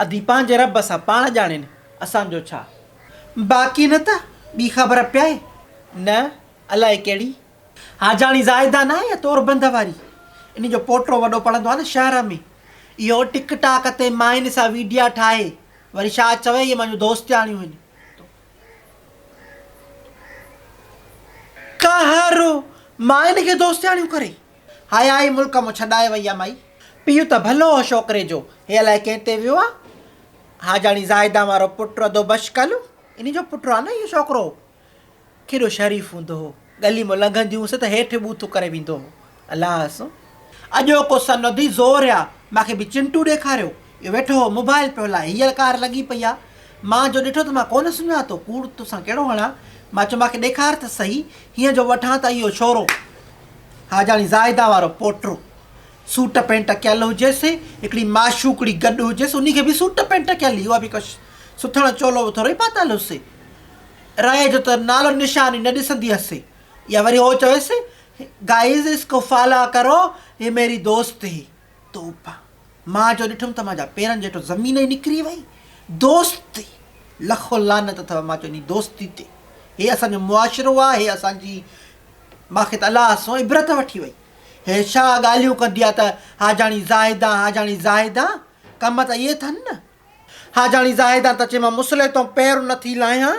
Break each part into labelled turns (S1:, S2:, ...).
S1: ادي پنهنجي رب سان پاڻ ڄاڻين اسان جو ڇا. باقي نه ته ٻي خبر پيائي نه الائي ڪهڙي. حاجاڻي زاهده ناهي اها توربند واري انهي جو پوٽو وڏو پڙهندو آهي نه شهر ۾ اهو ٽڪ ٽاڪ تي ماين سان ويڊيا ٺاهي وري ڇا چوي اهي مانجون دوستياڻيون هن تو ڪا هر ماين کي دوستياڻيون ڪري. حيا ئي ملڪ مون ڇڏائي وئي آ مئي. پيء ته ڀلو هو شوڪري جو، هي الائي ڪنهن تي ويو آ. حاجاڻي زاهدان وارو پٽ ردو بشڪل هو. انهي جو پٽ آ نه اهو شوڪرو. ڪيڏو شريف هوندو هو. ڳلي مون لنگهندي هئس ته هيٺ ٻوٿ ڪري ويندو هو. الله حسن. اڄوڪو سن اڌي زور آ. مان کي به چنٽو ڏيکاريو. اهو ويٺو هو موبائيل پيو هلائي. هيء ڪار لڳي پئي آ. مان جو ڏٺو ته مان ڪونه سڃاتو. ڪوڙ توسان ڪهڙو هڻان. مان چيو مان کي ڏيکار ته سهي. هينئر جو وٺان ته اهو ڇورو. حاجاڻي زاهده وارو پوٽو سوٽ پينٽ ڪيل هجيس، هڪڙي معشوقڙي گڏ هجيس، انهي کي به سوٽ پينٽ ڪيل هئي، اها به ڪو سٿڻ چولو به ٿورئي پاتل هئس. رئي جو ته نالو نشان ئي نه ڏسندي هئس. يا وري هو چويس، گائيز اس ڪو فالا ڪرو هي ميري دوست هي. توبه! مان جو ڏٺم ته مانجا پيرن جي هيٺو زمين ئي نڪري وئي. دوست! لکو لعنت اٿئو مان چو انهي دوستي تي. هي اسان جو معاشرو آ، هي اسان جي. مان کي ته الله سون عبرت وٺي وئي. هيء ڇا ڳالهيون ڪندي آ ته حاجاڻي زاهدان، حاجاڻي زاهدان، ڪم ته اهي اٿن نه. حاجاڻي زاهدان ته چيم مصلحي تون پير نه ٿي لاهيان.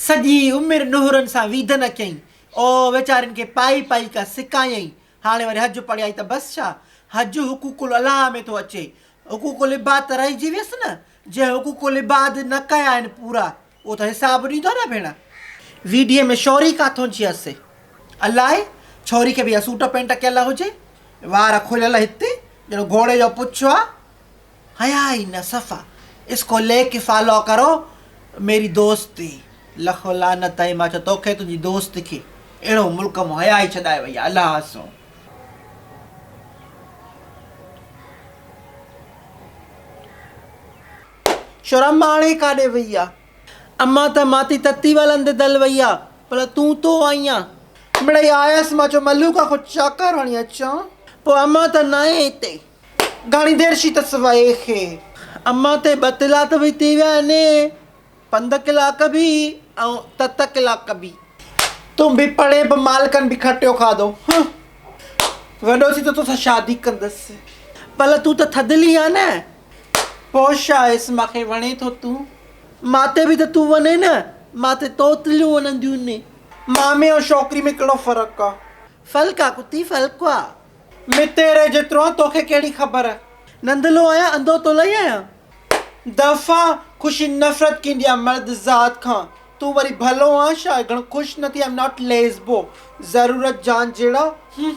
S1: سڄي عمر نوهرن سان ويڌ نه ڪيائين. او ويچارين کي پائي پائي ڪا سڪايائين. هاڻي وري حج پڙهيائين ته بس ڇا؟ حج حقوق الاله ۾ ٿو اچي. حقوق العباد ته رهجي ويس نه. جنهن حقوق العباد نه ڪيا آهن پورا اهو ته حساب ڏيندو نه ڀيڻ. ويڊيو ۾ شوري ڪاٿون جي اسي. الائي ڇوري کي به اها سوٽ پينٽ ڪيل هجي وار کليل هتي ڄڻ گهوڙي جو پڇ آ حياء ئي نه صفا اسڪو لي ڪي فالو ڪرو ميري دوستي لکو لعنت آهي مان چيو توکي تنهنجي دوست کي اهڙو ملڪ مان حياء ئي ڇڏائي وئي آ الهه اسون. شرم ماڻي ڪاڏي وئي آ. امان ته ماتي تتي ولن تي دل وئي آ. ڀلا تون تو آئين آ. مڙئي آيس مان چيو ملو کان ڪو چڪر هڻي اچان. پوء امان ته ناهي هتي. گهڻي دير شي تس وئي کي. امان ته ٻه تلاء ته ويتي ويا آهن. پنڌ ڪلا ڪبي ۽ تت ڪلا ڪبي. تون به پڙهين به مالڪن به کٽيو کاڌو هه. وڏو ٿي ته توسان شادي ڪندس. پل تون ته ٿڌلي آ نه پو شا اس ماکي وڻي ٿو تون ماتي به ته تون وڃي نه ماتي توتليون وڃنديون ني. مامي ۽ شوڪري ۾ ڪهڙو فرق آ. ڦل ڪا ڪتي ڦل ڪا. متيري جيترو آن توکي ڪهڙي خبر. ننڌلو آهيان انڌو تولئي آهيان. دفعا خوشي نفرت ڪيندي آ مرد ذات کان تون وري ڀلو آن شايد گھڻو خوش نه ٿي آئم ناٽ ليزبو ضرورت جان جھڙا هم.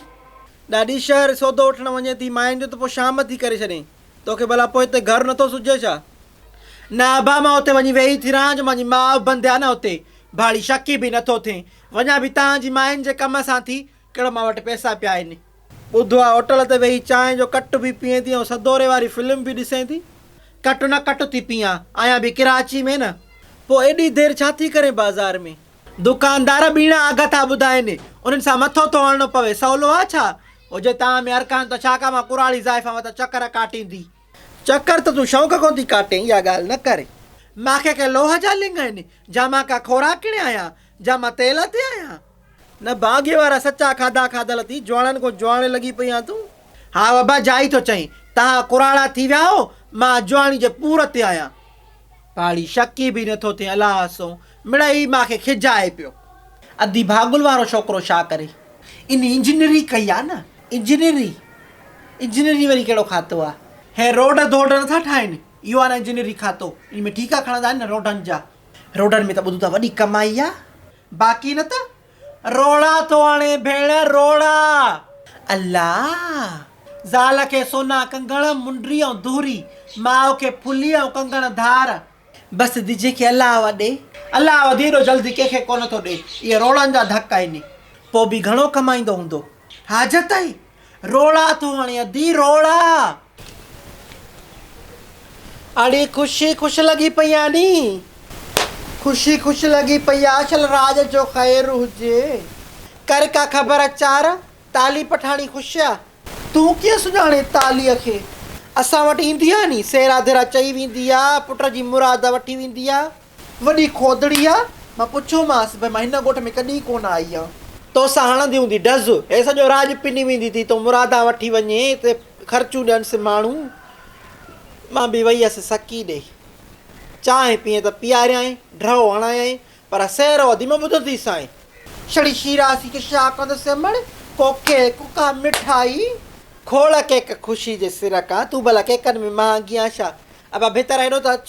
S1: ڏاڏي شهر سودو وٺڻ وڃي ٿي ماين جو ته پوء شام ٿي ڪري ڇڏين توکي ڀلا پوء هتي گھر نٿو سجھي ڇا؟ نه ابا مان اتي وڃي ويهي ٿي رهان جو مانجي ماء بند آ نه اتي ڀاڙي شڪي به نٿو ٿين وڃان به تان جي ماين جي ڪم سان ٿي ڪهڙا مان وٽ پئسا پيا آهن. ٻڌو آهي هوٽل تي ويهي چانهه جو ڪٽ به پيئين ٿي ۽ سدوري واري فلم به ڏسين ٿي. ڪٽ نه ڪٽ ٿي پيئان. آهيان به ڪراچي ۾ نه. پوء ايڏي دير ڇا ٿي ڪرين بازار ۾. دڪاندار ٻيڻا اگهه ٿا ٻڌائين. انهن سان مٿو ٿو هڻڻو پوي. سولو آهي ڇا؟ او جي تان ۾ ارڪان ته ڇا ڪا مان ڪراڙي زائفان وتان چڪر ڪاٽيندي. چڪر ته تون شوق ڪون ٿي ڪاٽين اها ڳالهه نه ڪر. مان ڪا ڪي لوهه جا لنگ آهن. جا مان ڪا خوراڪڻي آهيان. جا مان تيل تي آهيان. نه ڀاڳي وارا سچا کاڌا کاڌل ٿي جوانڙن کون جوانڙي لڳي پئي آن تون. ها ابا جا ئي ٿو چئين تهان ڪراڙا ٿي ويا هو مان جوانڙي جي پور تي آهيان. پاڙي شڪ ئي به نه ٿو ٿئي الله سو مڙئي مان کي کجائي پيو. ادي ڀاڳل وارو ڇوڪرو ڇا ڪري ان انجنيئري ڪئي آ نه. انجنيئري انجنيئري وري ڪهڙو کاتو آ. هي روڊ ڌوڊ نه ٿا ٺاهين اهو آ نه انجنيئري کاتو ان ۾ ٺيڪا کڻندا آهن نه روڊن جا. روڊن ۾ ته ٻڌون ٿا وڏي ڪمائي آ. باقي نه ته روڙا ٿو آڻي ڀيڻ روڙا. الله! زال کي سونا ڪنگڻ منڊري ۽ دهري، ماء کي ڦلي ۽ ڪنگڻ ڌار. بس دجي کي الله و ڏي. الله و ديرو جلدي ڪنهن کي ڪونه ٿو ڏي. اهي روڙن جا ڌڪ آهن. پوء به گهڻو ڪمائيندو هوندو. حاجت آهي. رولا ٿو هڻي ادي رولا. اڙي خوشي خوش لڳي پئي آ ني. خوشي خوش لڳي پئي آ شل راڄ جو خير هجي. ڪر ڪا خبر اچار تالي پٺاڻي خوش آ. تون ڪيئن سڃاڻين تاليء کي. اسان وٽ ايندي آ ني سيرا ڌيرا چئي ويندي آ پٽ جي مراد وٺي ويندي آ. وڏي کوڌڙي آ. مان پڇيومانس، ڀي مان هن ڳوٺ ۾ ڪڏهن ڪونه آئي آهيان. تو سان هڻندي هوندي ڊز. هي سڄو راڄ پني ويندي ٿي. تون مرادان وٺي وڃ ته خرچون ڏينس ماڻهو. مان به وئي هيس سڪي ڏي. چانهه پيئين ته پياريانء، ڍرو هڻايانء، پر سيرو اڌي مان ٻڌو ٿي سائين. شڙي شيراسي کي شاهه ڪندو سيمڙ، ڪوڪي، ڪوڪا، مٺائي. کوڙ ڪيڪ خوشي جي سر ڪان. تون ڀلا ڪيڪن ۾ مهانگي آن ڇا؟ ابا ڀتر هيڏو ته اچ.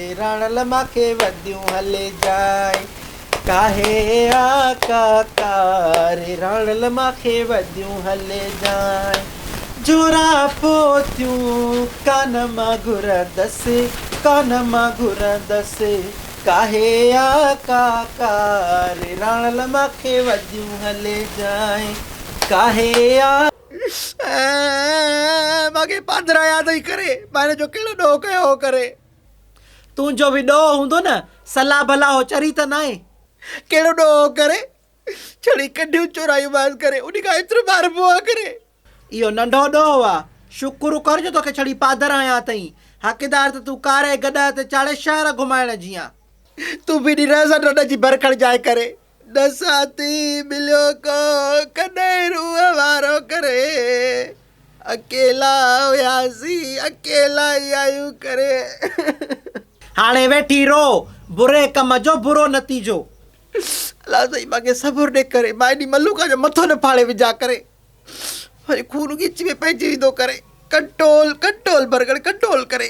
S1: راڻ لما کي وڌيون هلي جاء ڪاهي آقا تار راڻ لما کي وڌيون هلي جاء جورا پوتيون ڪانه مان گهرندس ڪانه مان گهرندس ڪاهي آقا ڪار راڻ لما کي وڌيون هلي جاء ڪاهي آقا مان کي پادرايا ٿي ڪري ماهري جو ڪهڙو ڏوهه ڪيو هو ڪري تون جو به ڏوهه هوندو نه، صلاح ڀلا هو چري ته ناهي. ڪهڙو ڏوهه هو ڪري، ڇڙي ڪڍيون چورائيون مانس ڪري، انهي کان ايترو ماربو آ ڪري. اهو ننڍو ڏوهه آ، شڪر ڪر جو توکي ڇڙي پادر هنيا اٿئين، حقدار ته تون ڪاري گڏهه تي چاڙهي شهر گهمائڻ جي آن. تون به ڏي رهه سان ڏنڊ جي ڀرکڙ جاء ڪري. ڏسان ٿي ٻليو ڪو ڪڏهن روح وارو ڪري اڪيلا هياسين اڪيلا ئي آهيون ڪري. هاڻي ويٺي رو بري ڪم جو برو نتيجو. الله سائين مانکي صبر ڏي ڪري مان ايڏي ملوڪ جو مٿو نه ڦاڙي وجهان ڪري وري خون ڳچ ۾ پئجي ويندو ڪري ڪنٽول ڪنٽول برگڙ ڪنٽول ڪري.